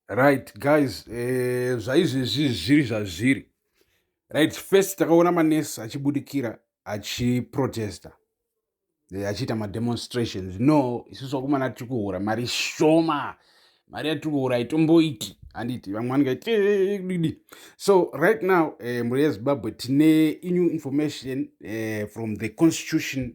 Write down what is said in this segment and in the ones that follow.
right guys eh, zvaizvezvi zviri zvazviri right first takaona manesi achibudikira achiprotesta eh, achiita mademonstrations no isusu vakomana tiri kuhura mari shoma mari yatiri kuhura itomboiti handiti vamwe vanikaiti eh, so right now eh, mhuri yezimbabwe tine new information eh, from the constitution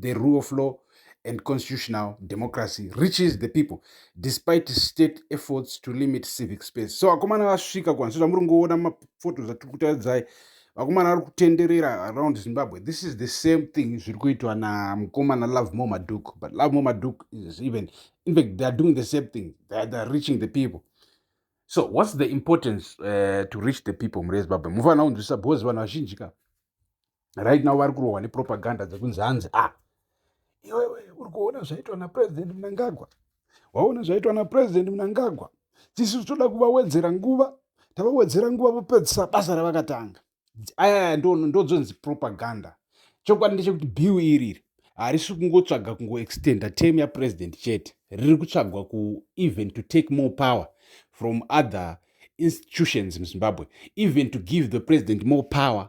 the rule of law and constitutional democracy reaches the people despite state efforts to limit civic space so vakomana vasvika kwanzi zvamuri ngoona maphotos atiri kutaridzai vakomana vari kutenderera around zimbabwe this is the same thing zviri kuitwa namukomana love more maduk but love more maduk is even in fact they are doing the same thing they are, they are reaching the people so what's the importance uh, to reach the people mure zimbabwe mufanira kunzwisisa because vanhu vazhinji ka right now vari kurohwa nepropaganda dzekunzi hanzi a ah, iwewe uri kuona zvaitwa napresident munangagwa waona zvaitwa napresident munangagwa tisu toda kuvawedzera nguva tavawedzera nguva vopedzisa basa ravakatanga ayaya ndozonzi propaganda chokwadi ndechekuti bill iriri harisi kungotsvaga kungoextenda term yapresident chete riri kutsvagwa ku even to take more power from other institutions muzimbabwe even to give the president more power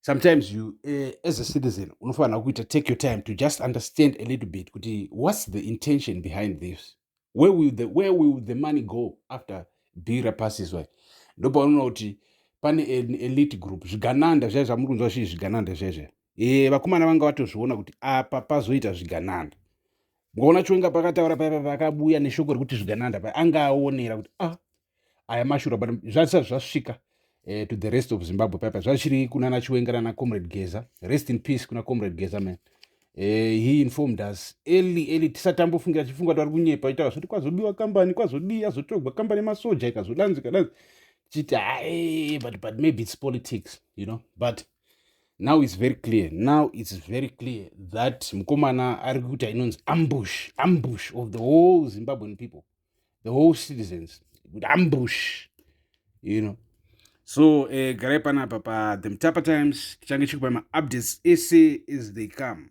sometimes you uh, as a citizen unofanira kuita take your time to just understand a little bit kuti what's the intention behind this where will the, where will the money go after bira passes way ndopaunoona kuti pane elite group zvigananda zvai zvamuri kunzwa zvii zvigananda zvaizvai e, vakomana vanga vatozviona kuti apa pazoita zvigananda mukaona chiwenga pakataura paipa pakabuya neshoko rekuti zvigananda pa anga aonera kuti ah aya mashura but zvasati zvasvika eh, to the rest of zimbabwe paipa zvachiri kuna nachiwenga nana comrade geza rest in peace kuna comrade geza man eh, he informed us early early tisatambofungira tichifunga kuti ari kunyepa itaura zvoti kwazobiwa kambani kwazodii azotogwa kambani yemasoja ikazodanzi ikadanzi tichiti hae but but maybe its politics you know but now its very clear now its very clear that mukomana ari kuita inonzi ambush ambush of the whole zimbabwean people the whole citizens with ambush you know so eh, garai panapa pa the mtapa times tichange chikupa maupdates ese as they come